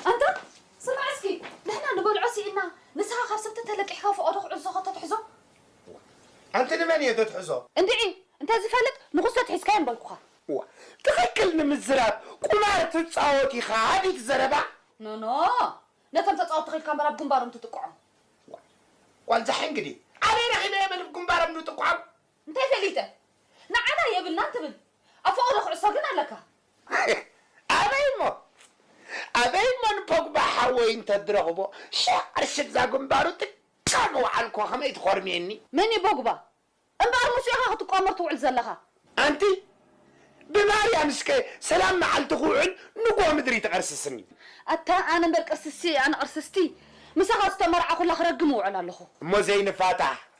ኣንታ ስማዕ እስኪ ንሕና ንበልዖ ሲኢንና ንስኻ ካብ ሰብቲ ተለቂሕካ ፎቆዶ ክዕዞ ከቶ ትሕዞ። እዋ ኣንቲ ንመን እየ ደትሕዞ። እንድዒ እንተ ዝፈልጥ ንኩሰት ሒዝካዮ ምበልኩኻ። እዋ ትኽክል ንምዝራብ ቁማር ትጻወት ኢኻ ኣዲት ዘረባ። ኖኖ ነቶም ተጻወቲ ኺልካ እምበር ኣብ ግንባሮም ትጥቅዖም። እዋ ጓልዛ ሕንግዲ ኣበይ ረኺበ እየ በል ብ ግንባሮም ድጥቅዖም። እንታይ ፈሊጠ ንዓና የብልናን ትብል ኣብ ፈቀዶ ኩዕሶ ግን ኣለካ። ኣበይ እሞ ኣበይ እሞ ንፖግባ ሓወይ እንተድረኽቦ ሽሕ ቅርሺ እዛ ግንባሩ ጥቃ ምውዓል እኮ ከመይ ትኾርምየኒ። መን እዩ ቦግባ እምበኣር ምስኡ ኢኻ ክትቋመር ትውዕል ዘለኻ። ኣንቲ ብማርያም እስከ ሰላም መዓልቲ ክውዕል ንጉሆ ምድሪ ትቅርስስኒ። ኣታ ኣነ እምበር ቅርስስቲ ኣነ ቅርስስቲ ምሳኻ ዝተመርዓኹላ ክረግም እውዕል ኣለኹ። እሞ ዘይንፋታሕ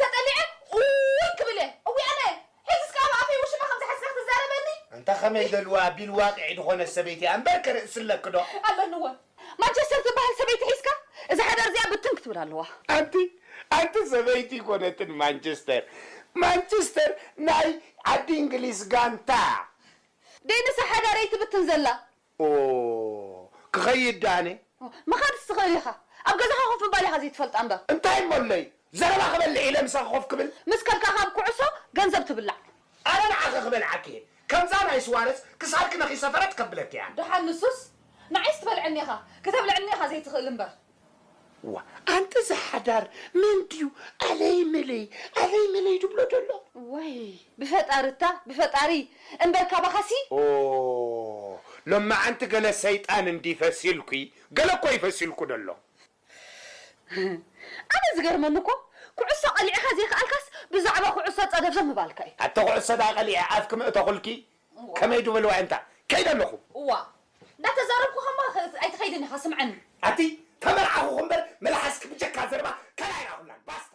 ተጠሊዐ ኡይ ክብል እየ እውይ ኣነ ሒዝስ ከኣ ኣብ ኣፈይ ውሽማ ከም ዝሓዝካ ክትዛረበኒ። ኣንታ ከመይ በልዋ ቢል ዋቅዒ ድኾነት ሰበይቲ እያ እምበር ከ ርእሲ ኣለኪ ዶ። ኣለኒ እወ ማንቸስተር ትብሃል ሰበይቲ ሒዝካ እዛ ሓዳር እዚኣ ብትን ክትብል ኣለዋ። ኣንቲ ኣንቲ ሰበይቲ ኣይኮነትን ማንቸስተር ማንቸስተር ናይ ዓዲ እንግሊዝ ጋንታ እያ። ደይ ንሳ ሓዳረይ ትብትን ዘላ ኦህ ክኸይድ ድኣ ኣነ። ኦህ ምኻድስ ትኽእል ኢኻ። ኣብ ገዛኻ ኮፍ ምባል ኢኻ ዘይትፈልጣ እምበር። እንታይ እሞ ኣሎዩ ዘረባ ክበልዕ ኢለ ምሳኺ ኮፍ ክብል። ምስ ከድካ ካብ ኩዕሶ ገንዘብ ትብላዕ። ኣነ ንዓኺ ክበልዓኪ እየ ከምዛ ናይ ስዋረዝ ክሳድኪ ነኺሰ ፈረጥ ከብለኪ እያ። ድሓን ንሱስ ንዓይስ ትበልዐኒ ኢኻ ክተብልዐኒ ኢኻ ዘይትኽእል እምበር። ዋእ ኣንታ እዚ ሓዳር መን ድዩ ኣለይ መለይ ኣለይ መለይ ድብሎ ደሎ። ዋይ ብፈጣሪ እታ ብፈጣሪ እምበር ካባኻ ሲ። ኦህ ሎማዓንቲ ገለ ሰይጣን እንድዪ ፈሲልኪ ገለ እኮ እዩ ፈሲልኩ ደሎ። ኣነ ዝገርመኒ እኮ ኩዕሶ ቀሊዕኻ ዘይክኣልካስ ብዛዕባ ኩዕሶ ጸደብዘብ ምባልካ እዩ። ኣቲ ኩዕሶ ድኣ ቀሊዐ ኣፍኪ ምእተኹልኪ ከመይ ድብል ዋዒምታ ከይደ ኣለኹ። እዋ እንዳተዛረብኩ ከማ ኣይትኸይድን ኢኻ ስምዐኒ። ኣቲ ተመርዓኹኹ እምበር መልሓስኪ ብጀካ ዘረባ ካልእ ኣይረኣኹላን ባስታ።